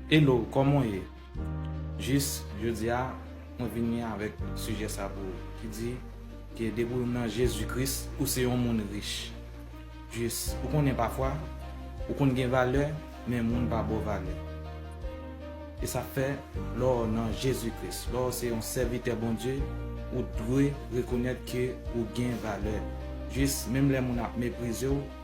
Hello koman w ye jis jodia mwen vini avèk sijè sa pou ou ki di ke depi w nan Jezi Kris ou se yon moun rich jis ou konnen pafwa ou konn gen valè men moun pa ba w valè e sa fè lè w nan Jezi Kris lè w se yon sèvitè Bondye ou dwe rekonèt ke ou gen valè jis menm lè moun ap meprize w.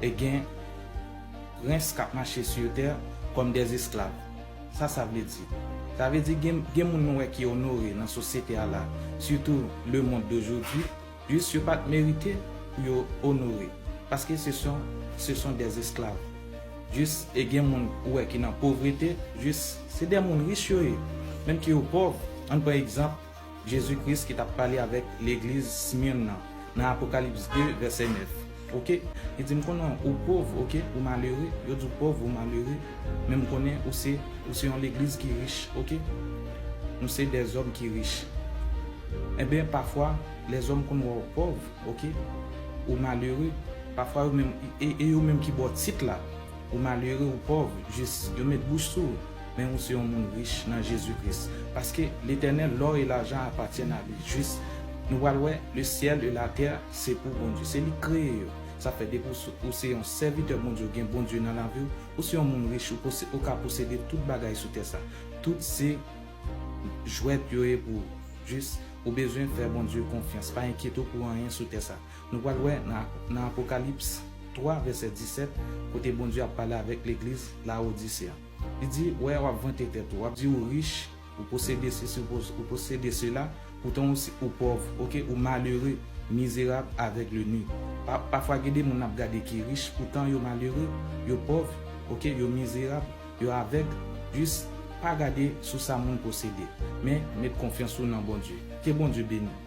E gen prens kap mache sur terre comme des esclaves. Sa sa vle di? Sa vle di gen gen moun nou wè ki onore nan sosyete a la, surtout le monde d'aujourd'hui, jis yo pat merite pou yo onore paske se son se son des esclaves. Jis e gen moun ou wè ki nan povrete, jis se de moun rich yo ye, menm ke yo pòv, ann pran egzanp, Jezi Kris ki t ap pale avèk legliz Smyrne nan, nan Apokalips 2, vèsè 9. Oke. Li di, M konnen ou pòv, oke, ou malere. Yo di ou pòv, ou malere, men m konnen ou se, ou se yon legliz ki rich, oke. Nou se dèzòm ki rich. Enben, pafwa, lèzòm konn wè ou pòv, oke, ou malere. Pafwa yo menm, e yo menm ki ba w tit la, ou malere, ou pòv, jis, yo met bouch sou ou. Men ou se yon moun rich nan Jezi Kris, paske Letènèl lò e lajan apatyèn a li. Jis, nou pral wè, le syèl e latè se pou Bondye. Se li k kreye yo. Sa fè depi ou se yon sèvitè Bondye, ou gen Bondye nan lavi ou, ou se yon moun rich, ou pose, ou ka posede tout bagay sou tè sa. Tout se jwèt yo ye pou ou. Jis, ou bezwen fè Bondye konfyans. Pa enkyete w pou anyen sou tè sa. Nou pral wè nan Apokalips 3 vèsè 17, kote Bondye ap pale avèk legliz Lawodise a. Li di, wè, w ap vante tèt ou, w ap di ou rich, ou posede sesi, ou posede sela, poutan ou si, ou pòv, ok, ou malere, mizerab, avègle, nu. Pa, pafwa gede moun n ap gade ki rich, poutan yo malere, yo pòv, ok, yo mizerab, yo avèg, jis, pa gade sou sa moun posede, men, met konfyans ou nan Bondye. Ke Bondye beni w.